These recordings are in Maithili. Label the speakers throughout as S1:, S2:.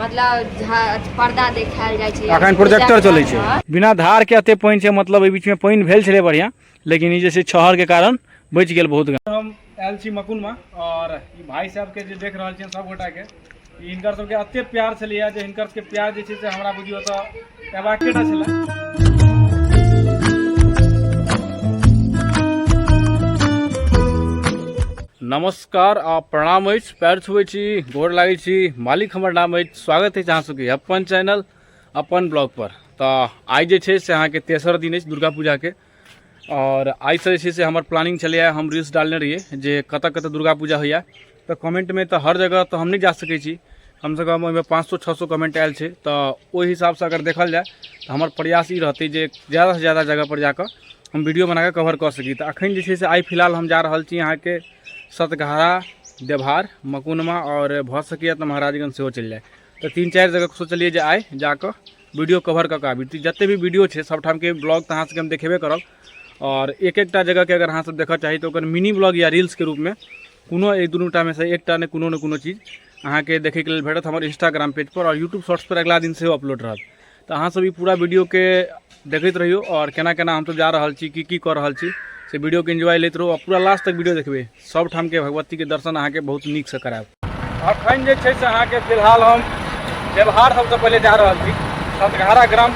S1: मतलब झा- पर्दा देखायल जाइ छै अखन प्रोजेक्टर चलै छै बिना धार के एते पानि छै मतलब एहि बीच में पानि भेल छलै बढ़िया लेकिन ई जे छै छहर के कारण बचि गेल बहुत गाछ। हम आयल छी मकुन में और ई भाई साहब के जे देख रहल छियनि सब गोटा के ई हिनकर सबके एते प्यार छलैया जे हिनकर सबके प्यार जे छै से हमरा बुझियो तऽ एबाके टा छलै नमस्कार नमस्कार आ प्रणाम अछि पैर छुबै छी गोर लागै छी मालिक हमर नाम अछि स्वागत अछि अहाँ सबके अपन चैनल अपन ब्लॉग पर तऽ आइ जे छै से अहाँके तेसर दिन अछि दुर्गा पूजाके आओर आइसँ जे छै से हमर प्लानिंग छलैए हम रील्स डालने रहियै जे कतऽ कतऽ दुर्गा पूजा होइए तऽ कमेंटमे तऽ हर जगह तऽ हम नहि जा सकै छी कमसँ कम ओहिमे पाँच सए छओ सए कमेंट आयल छै तऽ ओहि हिसाबसँ अगर देखल जाय तऽ हमर प्रयास ई रहतै जे ज्यादासँ ज्यादा जगहपर जा कऽ हम वीडियो बना कऽ कवर कऽ सकी तऽ अखन जे छै से आइ फिलहाल हम जा रहल छी अहाँके सतघारा देवहार मकुनमा आओर भऽ सकैए तऽ महाराजगंज सेहो चलि जाय तऽ तीन चारि जगह सोचलियै जे आइ जा कऽ वीडियो कवर कऽ कऽ आबी तऽ जतेक भी वीडियो छै सभठामके ब्लॉग तऽ अहाँ सभके हम देखेबे करब आओर एक एकटा जगहके अगर अहाँसभ देखय चाही तऽ ओकर मिनी ब्लॉग या रील्सके रूपमे कोनो एक दुनू टामे से एकटा ने कोनो ने कोनो चीज अहाँके देखैके लेल भेटत हमर इंस्टाग्राम पेज पर आओर यूट्यूब शॉर्ट्स पर अगिला दिन सेहो अपलोड रहत तऽ अहाँ सब ई पूरा वीडियो के देखैत रहियौ आओर केना केना हमसब जा रहल छी की की कऽ रहल छी से वीडियो के एंजॉय लैत रहू आओर पूरा लास्ट तक वीडियो देखबै सब ठाम के भगवती के दर्शन अहाँके बहुत नीक से करायब अखन जे छै से अहाँके फिलहाल हम व्यवहार सबसँ पहिले जा रहल छी सतघारा ग्राम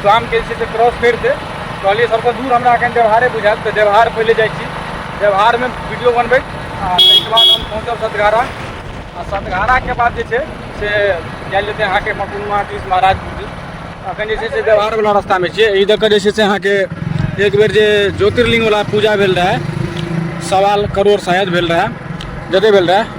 S1: गामके जे छै से क्रॉस करि दे कहलियै सभसँ दूर हमरा एखन देवहारे बुझायत तऽ देवहार पहिले जाइ छी देवहारमे वीडियो बनबै आ ताहिके बाद हम पहुँचब सतघारा आ सतघाराके बाद जे छै से जाय लेते अहाँके मकुनुआ दिस महाराजपुर दिस अखन जे छै से देवहारवला रस्तामे छियै एहि दऽ कऽ जे छै से अहाँके एक बेर जे ज्योतिर्लिङ्गवला पूजा भेल रहए सवाल करोड़ शायद भेल रहए जतेक भेल रहए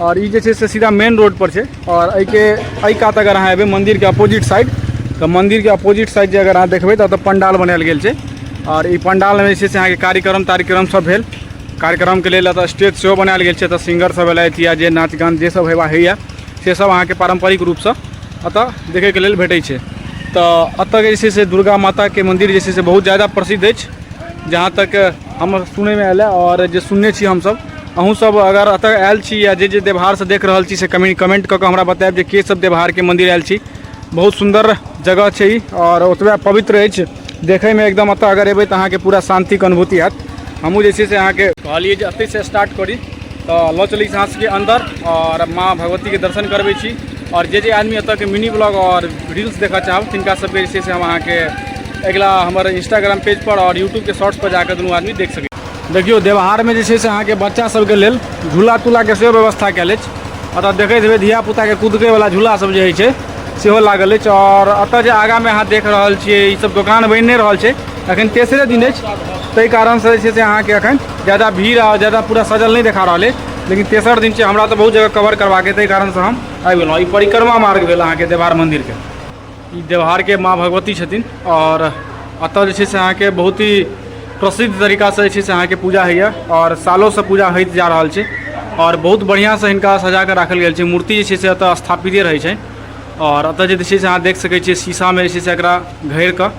S1: और ई जे छै से सीधा मेन रोड पर छै और एहि के एहि कात अगर अहाँ एबै मंदिर के अपोजिट साइड तऽ मंदिर के अपोजिट साइड जे अगर अहाँ देखबै तऽ ओतऽ पंडाल बनायल गेल छै और ई पंडाल मे जे छै से अहाँके कार्यक्रम तार्यक्रम सब भेल कार्यक्रम के लेल एतऽ स्टेज सेहो बनायल गेल छै एतऽ सिंगर सब एलथि या जे नाच गान जे सब हेबा होइया से सब अहाँके पारंपरिक रूप सँ एतऽ देखै के लेल भेटै छै तऽ एतऽ के जे छै से दुर्गा माता के मंदिर जे छै से बहुत ज्यादा प्रसिद्ध अछि जहाँ तक हमर सुनैमे आयल हँ और जे सुनने छी हमसब अहूँ सब अगर एतऽ आयल छी या जे जे देवहार से देख रहल छी से कमी कमेंट कऽ के हमरा बतायब जे के सब देवहार के मंदिर आयल छी बहुत सुंदर जगह छै ई और ओतबे पवित्र अछि देखै में एकदम एतऽ अगर एबै तऽ अहाँके पूरा शांति के अनुभूति हैत हमहूँ जे छै से अहाँके कहलियै जे एतै से स्टार्ट करी तऽ लऽ चलै छी अहाँ सबके अंदर और माँ भगवती के दर्शन करबै छी और जे जे आदमी एतऽ के मिनी ब्लॉग और रील्स देखऽ चाहब तिनका सबके जे छै से हम अहाँके अगिला हमर इंस्टाग्राम पेज पर और यूट्यूब के शॉर्ट्स पर जाकर दुनू आदमी देख सकै देखियौ देवहारमे जे छै से अहाँके बच्चा सबके लेल झूला तूलाके सेहो व्यवस्था कयल अछि एतऽ देखैत हेबै धियापुताके कूदकैवला झूला सब जे होइ छै सेहो लागल अछि आओर एतऽ जे आगाँमे अहाँ देख रहल छियै ई सब दोकान बनि नहि रहल छै एखन तेसरे दिन अछि ताहि कारणसँ जे छै से अहाँके एखन ज्यादा भीड़ आओर ज्यादा पूरा सजल नहि देखा रहल अछि लेकिन तेसर दिन छै हमरा तऽ बहुत जगह कवर करबाक अछि ताहि कारणसँ हम आबि गेलहुँ ई परिक्रमा मार्ग भेल अहाँके देवहार मन्दिरके ई देवहारके माँ भगवती छथिन आओर एतऽ जे छै से अहाँके बहुत ही प्रसिद्ध तरीकासँ जे छै से अहाँके पूजा होइए आओर सालोसँ पूजा होइत जा रहल छै आओर बहुत बढ़िआँसँ हिनका सजा कऽ राखल गेल छै मूर्ति जे छै से एतऽ स्थापिते रहै छै आओर एतऽ जे छै से अहाँ देख सकै छियै शीशामे जे छै से एकरा घैर कऽ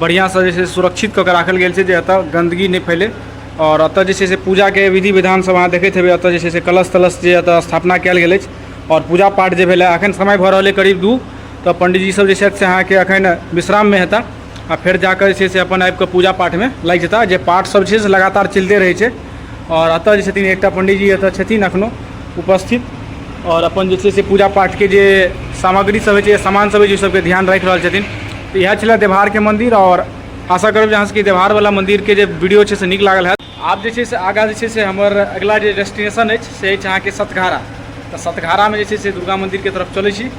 S1: बढ़िआँसँ जे छै से सुरक्षित कऽ कऽ राखल गेल छै जे एतऽ गन्दगी नहि फैलै आओर एतऽ जे छै से पूजाके विधि विधान सब अहाँ देखैत हेबै एतऽ जे छै से कलश तलश जे एतऽ स्थापना कयल गेल अछि आओर पूजा पाठ जे भेलै एखन समय भऽ रहल अइ करीब दू तऽ पंडीजी सब जे छथि से अहाँके अखन विश्राममे हेता आ फेर जाकऽ जे छै से अपन आबिकऽ पूजा पाठमे लागि जेता जे पाठ सब छै से लगातार चलिते रहै छै आओर एतऽ जे छथिन एकटा पंडीजी एतऽ छथिन अखनो उपस्थित आओर अपन जे छै से पूजा पाठके जे सामग्री सब होइ छै सामान सब होइ छै ओहि सबके ध्यान राखि रहल छथिन तऽ इएह छलै देवहारके मन्दिर आओर आशा करब जे अहाँ सबके देवहारवला मन्दिरके जे वीडियो छै से नीक लागल हैत आब जे छै से आगाँ जे छै से हमर अगिला जे डेस्टिनेशन अछि से अछि अहाँके सतघारा तऽ सतघारामे जे छै से दुर्गा मन्दिरके तरफ चलै छी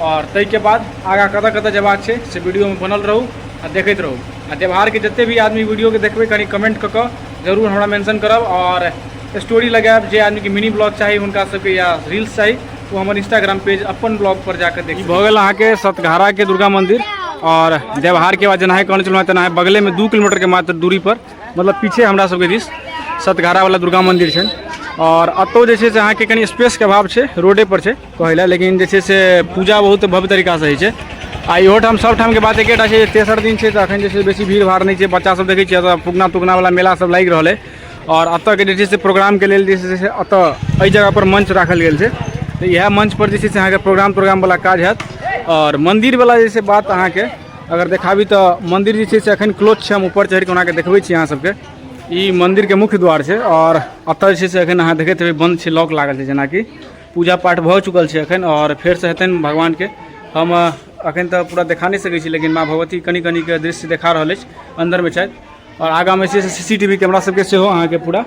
S1: आओर ताहिके बाद आगाँ कतऽ कतऽ जयबाक छै से वीडियोमे बनल रहू आ देखैत रहू आ देवहारके जतेक भी आदमी वीडियोके देखबै कनि कमेंट कऽ कऽ जरूर हमरा मेंशन करब आओर स्टोरी लगायब जे आदमीके मिनी ब्लॉग चाही हुनका सबके या रील्स चाही ओ हमर इंस्टाग्राम पेज अपन ब्लॉग पर जाकऽ देखी भऽ गेल अहाँके सतघाराके दुर्गा मन्दिर आओर देवहारके बाद जेनाहे कहने छलहुँ तेनाहे बगलेमे दू किलोमीटरके मात्र दूरी पर मतलब पीछे हमरा सबके दिस सतघारावला दुर्गा मन्दिर छनि आओर एतहु जे छै से अहाँके कनि स्पेसके अभाव छै रोडेपर छै कहै लए लेकिन जे छै से पूजा बहुत भव्य तरीकासँ होइ छै आ इहो ठाम सब ठामके बात एकेटा छै तेसर दिन छै तऽ अखन जे छै बेसी भीड़ भाड़ नहि छै बच्चा सब देखै छियै एतऽ फुकना तुकनावला मेला सब लागि रहल अइ आओर एतऽके जे छै से प्रोग्रामके लेल जे छै से एतऽ एहि जगहपर मंच राखल गेल छै तऽ इएह मंचपर जे छै से अहाँके प्रोग्राम तोग्रामवला काज हैत आओर मन्दिरवला जे छै बात अहाँके अगर देखाबी तऽ मन्दिर जे छै से एखन क्लोज छै हम ऊपर चढ़ि कऽ ओनाके देखबै छी अहाँ सबके ई मन्दिरके मुख्य द्वार छै आओर एतऽ जे छै से एखन अहाँ देखैत हेबै बन्द छै लॉक लागल छै जेनाकि पूजा पाठ भऽ चुकल छै एखन आओर फेरसँ हेतनि भगवानके हम एखन तऽ पूरा देखा नहि सकै छी लेकिन माँ भगवती कनि कनिके दृश्य देखा रहल अछि अन्दरमे छथि आओर आगाँमे छै से C C T V camera सबके सेहो अहाँके पूरा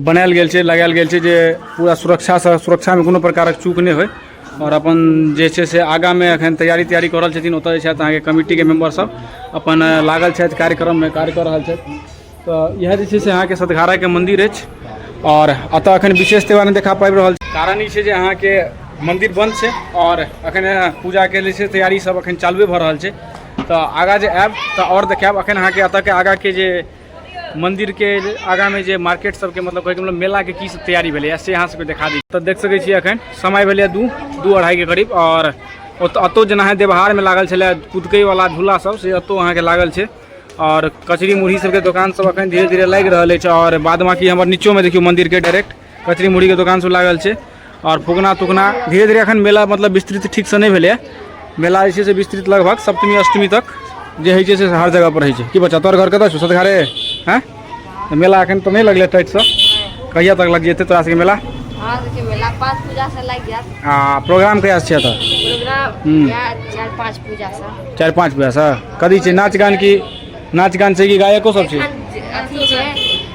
S1: बनायल गेल छै लगायल गेल छै जे पूरा सुरक्षासँ सुरक्षामे कोनो प्रकारक चूक नहि होइ आओर अपन जे छै से आगाँमे एखन तैयारी तैयारी कऽ रहल छथिन ओतऽ जे छथि अहाँके कमिटीके मेम्बर सब अपन लागल छथि कार्यक्रममे कार्य कऽ रहल छथि तऽ इएह जे छै से अहाँके सतघाराके मन्दिर अछि आओर एतऽ एखन विशेष त्यौहार नहि देखा पाबि रहल कारण ई छै जे अहाँके मन्दिर बन्द छै आओर एखन पूजाके जे छै तैयारी सब एखन चालुए भऽ रहल छै तऽ आगाँ जे आएब तऽ आओर देखाएब एखन अहाँके एतऽके आगाँके जे मन्दिरके आगाँमे जे मार्केट सबके मतलब कहैके मतलब मेलाके की सब तैयारी भेलैए से अहाँ सबके देखा दी तऽ देख सकै छियै एखन समय भेलैए दू दू अढ़ाइके करीब आओर ओतऽ एतौ जेना अहाँ देवहारमे लागल छलै कुदकैवला झूला सब से एतौ अहाँके लागल छै आओर कचरी मुरही सबके दोकान सब एखन धीरे धीरे लागि रहल अछि आओर बाद बाकी हमर नीचोमे देखियौ मन्दिरके डायरेक्ट कचरी मुड़ी के दुकान सब लागल छै और फुकना तुकना धीरे धीरे अखन मेला मतलब विस्तृत ठीक से नहीं भेले मेला जे छै से विस्तृत लगभग सप्तमी अष्टमी तक जे होइ छै से हर जगह पर होइ छै की बच्चा तोर घर कतऽ छौ सतघारे हैं मेला अखन तो नहीं लगले टाइट से कहिया तक लग जेते तोरा सबके मेला हाँ, मेला पाँच पूजा से लग जात हाँ प्रोग्राम कहिया से छै एतऽ प्रोग्राम हम्म। चार पाँच पूजा से चार पाँच पूजा से कथी छै नाच गान की नाच गान छै कि गायको सब छै अथी छै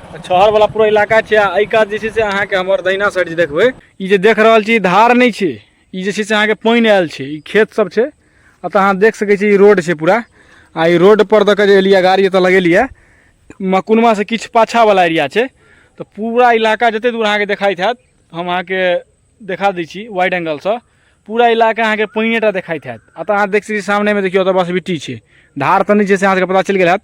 S1: छहर वाला पूरा इलाका छै आ एहि कात जे छै से अहाँके हमर दहिना साइड जे देखबै ई जे देख रहल छी धार नहि छै ई जे छै से अहाँके पानि आयल छै ई खेत सब छै एतऽ अहाँ देख सकै छी ई रोड छै पूरा आ ई रोड पर दऽ कऽ जे एलियै गाड़ी एतऽ लगेलियै मकुनमा से किछु पाछा वाला एरिया छै तऽ पूरा इलाका जते दूर अहाँके देखाइत हैत हम अहाँके देखा दै छी वाइड एंगलसँ पूरा इलाका अहाँके पानिए टा देखाइत हैत एतऽ अहाँ देख सकै सामनेमे देखियौ एतऽ बस बिट्टी छै धार तऽ नहि छै से अहाँके पता चलि गेल हैत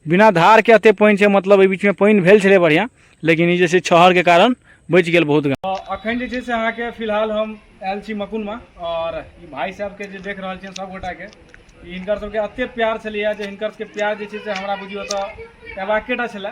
S1: बिना धारके एतेक पानि छै मतलब एहि बीचमे पानि भेल छलै बढ़िआँ लेकिन ई जे छै छहरके कारण बचि गेल बहुत गाँव अखन जे छै से अहाँके फिलहाल हम आयल छी मकुनमे आओर ई भाइ साहबके जे देख रहल छियनि सभगोटाके हिनकर सभके एतेक प्यार छलैए जे हिनकर सभके प्यार जे छै से हमरा बुझियौ तऽ अयबाके टा छलए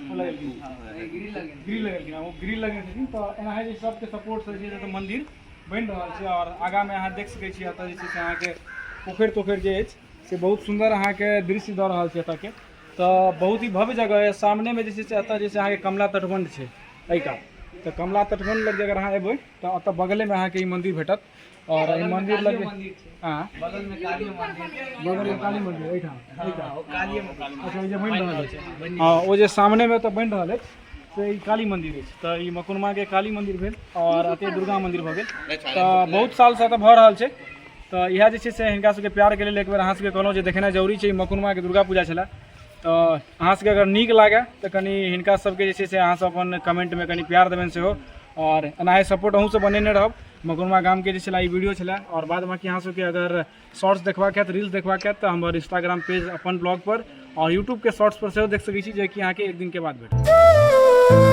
S1: ग्रिल लगेलखिन ओ ग्रिल लगेने छथिन तऽ एना जे सबके सपोर्ट से जे मंदिर बनि रहल छै आओर आगामे अहाँ देख सकै छी एतऽ जे छै से अहाँके पोखरि तोखरि जे अछि से बहुत सुन्दर अहाँके दृश्य दऽ रहल छै एतऽके तऽ बहुत ही भव्य जगह यऽ सामनेमे जे छै से एतऽ जे छै अहाँके कमला तटबंध छै एहिका तऽ कमला तटबंध लग जे अगर अहाँ एबै तऽ एतऽ बगलेमे अहाँके ई मंदिर भेटत और बगल में मंदिर कालियो लगे मंदिर छै हां बगल में कालियो मंदिर छै बगल में काली मंदिर एहि ठाम हँ, एहि ठाम ओ कालिये मंदिर अच्छा ई जे बनि रहल अछि छै बनि हां ओ जे सामने में तऽ बनि रहल अछि से ई काली मंदिर अछि तऽ ई मकुनमा के काली मंदिर भेल और अते दुर्गा मंदिर भऽ गेल तऽ बहुत साल से तऽ भऽ रहल छै तऽ इएह जे छै से हिनका सबके प्यार के लेल एक बेर अहाँ सबके कहलहुँ जे देखेनाइ जरूरी छै ई मकुनमा के दुर्गा पूजा छलै तऽ अहाँ सबके अगर नीक लागए तऽ कनि हिनका सबके जे छै से अहाँ सब अपन कमेंट में कनि प्यार देबनि सेहो और एनाहे सपोर्ट अहूँ सब बनेने रहब मगुरमा गाम के छला ई वीडियो छला और बाद बाकी अहाँ सबके अगर शॉर्ट्स देखबा के रील्स देखबा के तऽ हमर इंस्टाग्राम पेज अपन ब्लॉग पर और यूट्यूब के शॉर्ट्स पर सेहो देख सकै छी जे कि अहाँ के एक दिन के बाद भेटत